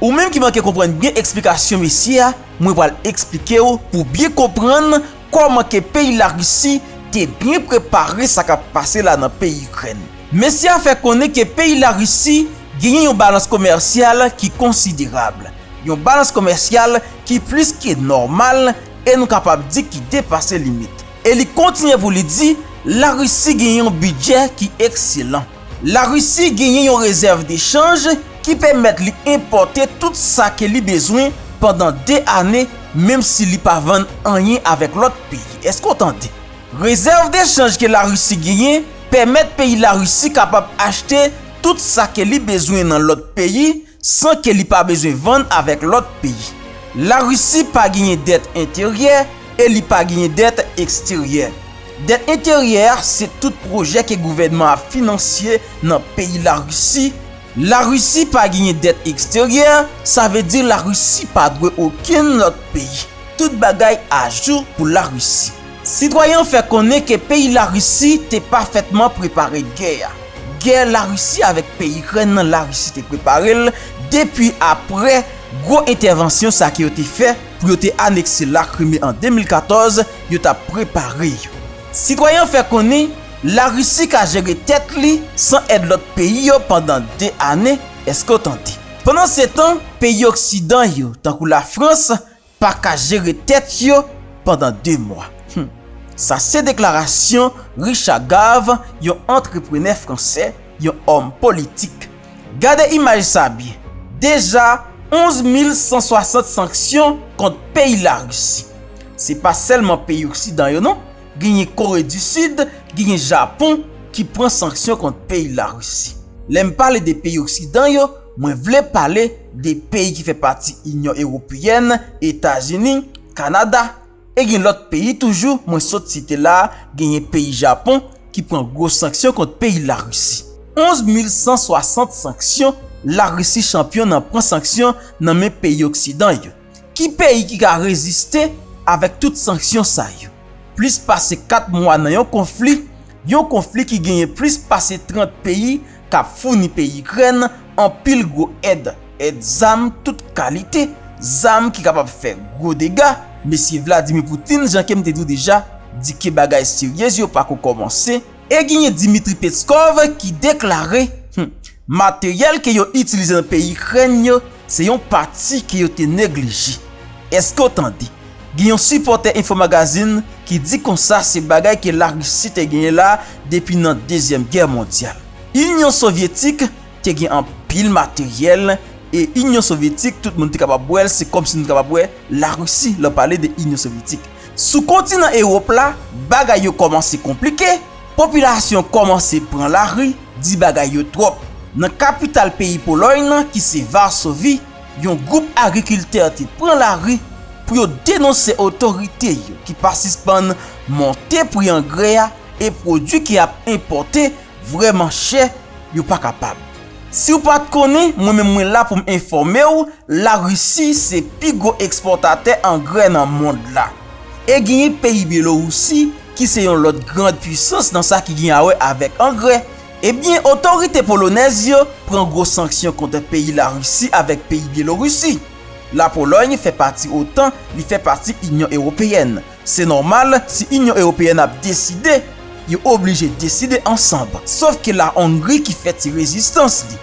Ou menm ki manke konprann byen eksplikasyon mesye a, mwen pral eksplike w pou w byen konprann kòman ke peyi Larisi te byen prepare sa k ap pase la nan peyi Ikrèn. Mesye a fè konnen ke peyi Larisi genyen yon balans komèsyal ki konsiderab, yon balans komèsyal ki plis ke nòmal e nou kapab di ki depase limit. E li kontinye pou li di Larisi genyen yon bidjè ki ekselan. Larisi genyen yon rezèv de chanj ki pèmèt li enpòte tout sa ke li bezwen pandan 2 ane menm si li pa vann anyen avèk lòt peyi. Eske w tande? Rezèv de chanj ke Larisi genyen pèmèt peyi Larisi kapab achte tout sa ke li bezwen nan lòt peyi san ke li pa bezwen vann avèk lòt peyi. La Risi pa genyen dèt enteryè e li pa genyen dèt eksteryè. Dèt enteryè a se tout pwojè ke gouvènman ap finansye nan peyi La Risi. La Risi pa genyen dèt eksteryè, sa vle di La Risi pa dwe okenn lòt peyi. Tout bagay ajou pou La Risi. Sitwayen an fè konnen ke peyi Larisi te pafètman prepare gè a. Gè Larisi avèk peyi Ikrèn nan Larisi te prepare l depi aprè gwo entèvansyon sa ke yo te fè pou yo te anekse Lakrime an 2014, yo t ap prepare yo. Sitwayen an fè konnen Larisi ka jere tèt li san èd lòt peyi yo pandan 2 ane, èske w tande. Pandan se tan, peyi oksidan yo tankou Lafrans, paka jere tèt yo pandan 2 mwa. Hum. Sa se deklarasyon Richard Gave, yon antreprenè fransè, yon òm politik. Gade imaj sa byen. Deja 11 mil 160 sanksyon kont peyi Larisi. Se pa sèlman peyi oksidan yo non, genyen Kore di Sid, genyen Japon ki pran sanksyon kont peyi Larisi. Lè m pale de peyi oksidan yo, Mwen vle pale de peyi ki fè pati Inyon Ewopeyèn, Etazini, Kanada, e gen lòt peyi toujou mwen sot site la, genyen peyi Japon ki pran gwo sanksyon kont peyi Larisi. 11 mil 160 sanksyon, Larisi chanpyon nan pran sanksyon nan men peyi oksidan yo. Ki peyi ki ka reziste avèk tout sanksyon sa yo? Plis pase 4 mwa nan yon konfli, yon konfli ki genyen plis pase 30 peyi k ap founi peyi Ikrèn anpil gwo èd, èd zam tout kalite, zam ki kapab fè gwo dega. Mesye Vladimir Putin, jan ke m te di w deja, di ke bagay seryez yo pako kòmanse. E genyen Dmitry Peskov ki deklare, Hum, materyèl ke yo itilize nan peyi Ikrèn yo, se yon pati ke yo te neglije. Eske w tande? Gen yon sipòtè Infomagazine ki di konsa se bagay ke Larisi te genyen la depi nan Dezyèm Gè Mondyal. Inyon Sovyetik Te gen anpil materyèl e Inyon Sovyetik tout moun te kapab wè l se kòm si nou te kapab wè Larisi lè w pale de Inyon Sovyetik. Sou kontinan Ewòp la, bagay yo kòmanse konplike, popilasyon kòmanse pran lari, di bagay yo twòp. Nan kapital peyi Polòy nan ki se Varsovi, yon gwoup agrikiltè te pran lari pou yo denonse otorite yo ki pa sispann monte pri angrè a e pwodui ki ap enpòte Vrèman chè, yo pa kapab. Si w pa t konnen, mwen menm mwen la pou m enfòme w, La Risi se pi gwo ekspòtatè angrè nan mond la. E genyen peyi Byelorousi ki se yon lòt grand pwisans nan sa ki gen a wè avèk angrè. Ebyen, otorite polonèz yo pran gwo sanksyon kont peyi La Risi avèk peyi Byelorousi. La Polòy fè pati otan, li fè pati Inyon Ewopeyèn. Se nòmal si Inyon Ewopeyèn ap deside, yo oblije deside ansanb. Sof ke la Ongri ki fè ti rezistans li.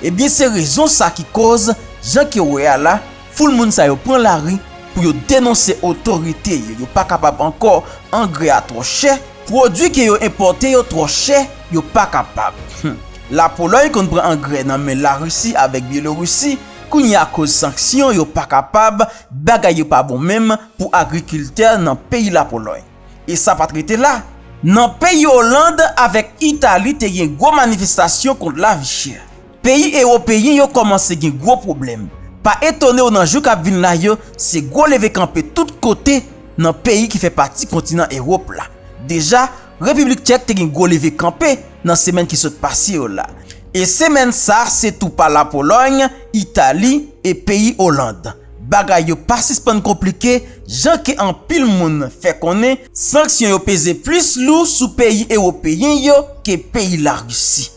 Ebyen se rezon sa ki koz, jan ke wè a la, foul moun sa yo pran lari pou yo denonse otorite yo, yo pa kapab ankò, angrè a twò chè, pwodui ke yo enpòte yo twò chè, yo pa kapab. Hum. La Polòy konn pran angrè nan men la Risi avèk Byelorisi, kounye a koz sanksyon yo pa kapab, bagay yo pa bon menm, pou agrikiltè nan peyi Lapolòy. E sa pa t rete la, nan peyi Oland avèk Itali te gen gwo manifestasyon kont lavi chè. Peyi ewopeyen yo kòmanse gen gwo pwoblèm. Pa etone w nan jou k ap vin la yo, se gwo leve kanpe tout kote nan peyi ki fè pati kontinan Ewop la. Deja, Repiblik Tchèk te gen gwo leve kanpe nan semèn ki sot pase yo la. E semèn sa se tou pa Lapolòy, Itali e peyi Oland. Bagay yo pa sispann konplike jan ke anpil moun fè konnen sanksyon yo peze plis lou sou peyi ewopeyen yo ke peyi Larisi.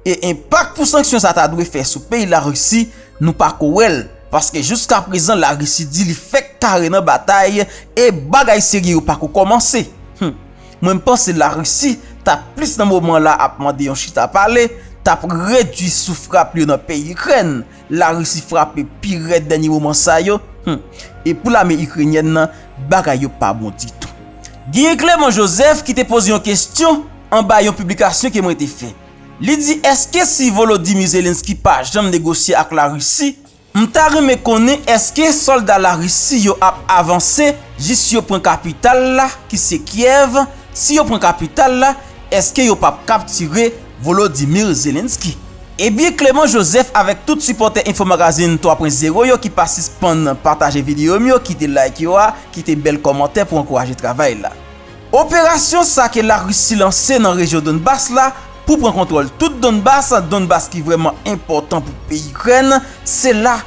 E enpak pou sanksyon sa ta dwe fè sou peyi Larisi nou pa ko wè l paske jouskaprezan Larisi di li fèk kare nan batay e bagay serye yo pa ko kòmanse. Hum mwen m panse Larisi ta plis nan moman la ap mande yon chita pale, ta p redwi sou frap yo nan peyi Ikrèn La Risi frape pi rèd dènye moman sa yo, hum, e pou lame Ikrenyèn nan, bagay yo pa bon ditou. Genyen Clément Joseph ki te poze yon kestyon anba yon piblikasyon ke mwen te fè. Li di eske si Volodymyr Zelensky pa janm negosye ak La Risi, m ta renmen konnen eske solda La Risi yo ap avanse jis yo pran kapital la ki se Kiev, si yo pran kapital la eske yo pap kaptire Volodymyr Zelensky. Ebyen Clément Joseph avèk tout sipòtè Infomagazine 3 pwen zewo yo ki pa sispann pataje videyo m yo kite like yo a kite bèl kòmantè pou ankouraje travay la. Operasyon sa ke Larisi lanse nan rejyon Donbas la pou pran kontwòl tout Donbas, Donbas ki vrèman enpòtan pou peyi Ikrèn, se la,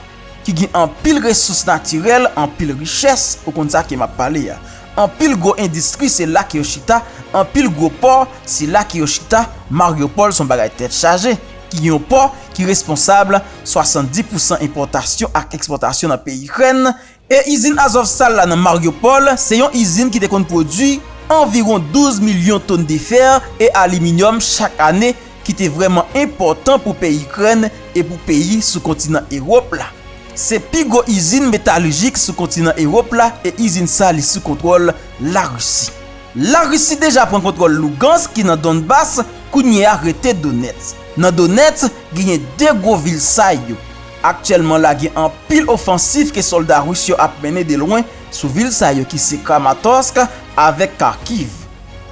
ki gen anpil resous natirèl, anpil richès, ou konn sa ke map pale a. Anpil gwo endistri se la ke yo chita, anpil gwo pò se la ke yo chita, Mariupol son bagay tèt chaje, ki gen yon pò ki responsab 70 pousan enpòtasyon ak ekspòtasyon nan peyi Ikrèn, e izin Azovstal la nan Mariupol se yon izin ki te konn pwodwi anviwon 12 milyon ton de fer e aliminyòm chak ane, ki te vrèman enpòtan pou peyi Ikrèn e pou peyi sou kontinan Ewòp la. Se pi gwo izin metalijik sou kontinan Ewòp la e izin sa li sou kontwòl Larisi. Larisi deja pran kontwòl Lugansk ki nan Donbas, kounye a rete Donetsk. Nan Donetsk, genyen 2 gwo vil sa yo. Aktyèlman la gen anpil ofansif ke sòlda Ris yo ap mennen de lwen sou vil sa yo ki se Kramatorsk avèk Kharkiv.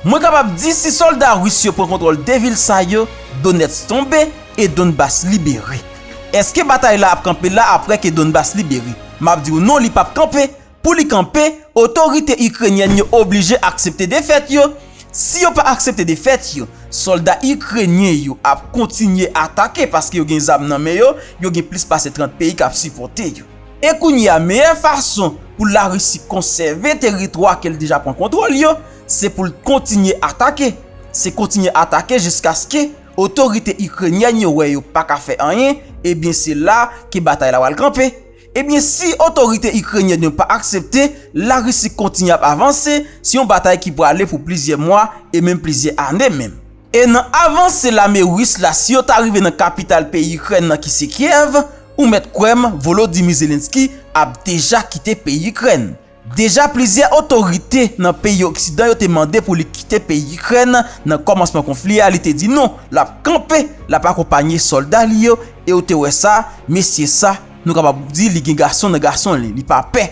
Mwen kapab di si sòlda ris yo pran kontwòl 2 vil sa yo, Donetsk tonbe e Donbas libere. Eske batay la ap kanpe la apre ke Donbas libere? M ap di w non li pap kanpe, pou li kanpe, otorite Ikrenyèn yo oblije aksepte defèt yo, si yo pa aksepte defèt yo, sòlda Ikrenyen yo ap kontinye atake paske yo gen zam nan men yo, yo gen plis pase 30 peyi k ap sipòte yo. E kounye a, meyè fason pou Larisi konsève teritwa ke l deja pran kontwòl yo, se pou l kontinye atake. Se kontinye atake jiskaske otorite Ikrenyèn yo wè yo pa ka fè anyen, ebyen se la ke batay la pral kanpe. Ebyen si otorite Ikrenyèn yo pa aksepte Larisi kontinye ap avanse, se yon batay ki prale pou plizyè mwa e menm plizyè ane menm. E nan avanse lame Ris la, si yo ta rive nan kapital peyi Ikrèn nan ki se Kyèv, Ou mèt kwè m Volodymyr Zelenskyy ap deja kite peyi Ikrèn. Deja plizyè otorite nan peyi oksidan yo te mande pou li kite peyi Ikrèn nan kòmansman konfli a li te di non l ap kanpe l ap akonpanye sòlda li yo e ou te wè sa mesye sa nou kapab di li gen gason nan gason li li pa pè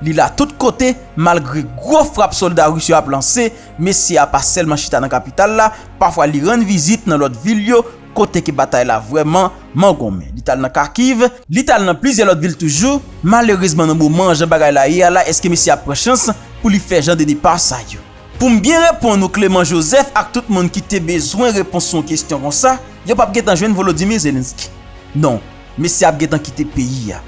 li la tout kote malgre gwo frap sòlda ris yo ap lanse mesye a pa sèlman chita nan kapital la pafwa li rann vizit nan lòt vil yo Kote ke batay la vrèman man gonmen. Li t al nan Kharkiv. Li t al nan plizyè lòt vil toujou. Malerezman nan moman jan bagay la ye a la eske mesye a pran chans pou li fè jan de depa sa yo? Pou m byen reponn ou Clément Joseph ak tout moun ki te bezwen repons sou yon kesyon konsa, yo p ap gentan jwenn Volodymyr Zelensky. Non, mesye a ap gentan kite peyi a.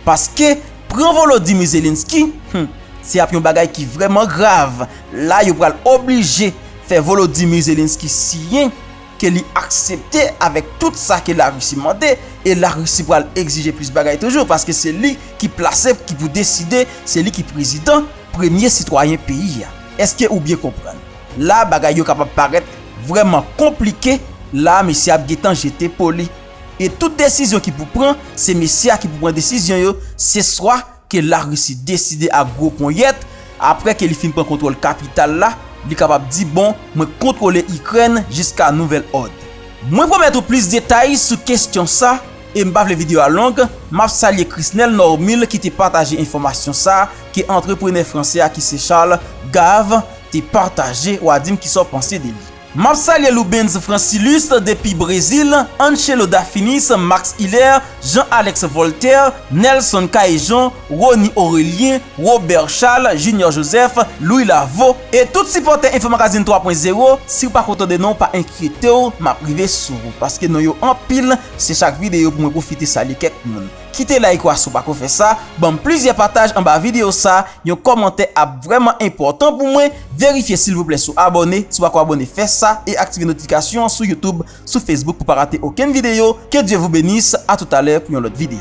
Paske, pran Volodymyr Zelensky, hum, se ap yon bagay ki vrèman grav. La yo pral oblije fè Volodymyr Zelensky siyen. ke li aksepte avèk tout sa ke la Russie mande e la Russie pral egzije plis bagay toujou paske se li ki plase ki pou deside se li ki prezidan premye sitwayen peyi a eske ou byen konprann la bagay yo kapab parèt vrèman konplike la mesye ap gentan jete po li e tout desizyon ki pou pran se mesye a ki pou pran desizyon yo se swa ke Larisi deside ak gwo ponyèt, apre ke li fin pran kontwòl kapital la, li kapab di bon, mwen kontwole Ikrèn jiska nouvèl òd. Mwen pwomèt ou plis detay sou kestyon sa, e m pa vle video a long, m ap salye Chrisnel Normil ki te pataje enfòmasyon sa ke antreprenè fransè a ki se Charles Gave te pataje, w a di m kisa w panse de li. Map salye Loubens Francilus depi Brezil, Anchelo Dafinis, Max Hilaire, Jean Alex Voltaire, Nelson Caejon, Rony Aurelien, Robert Charles, Junior Joseph, Louis Lavo, e tout sipòtè Info Magazine 3 pwen zewo, siw pako tande non pa enkyetew map rive sou ou paske non yo anpil se chak videyo pou mwen pwofite salye kèk moun. Kite like wa si w pako fè sa, banm plizyè pataj anba video sa, yon kòmantè ap vrèman enpòtan pou mwen, verifye silvouplè si w abòne, si w pako abòne fè sa e aktive notifikasyon an sou YouTube, sou Facebook pou pa rate okenn video, que Dieu vous bénisse, a toutalè pou yon lòt video.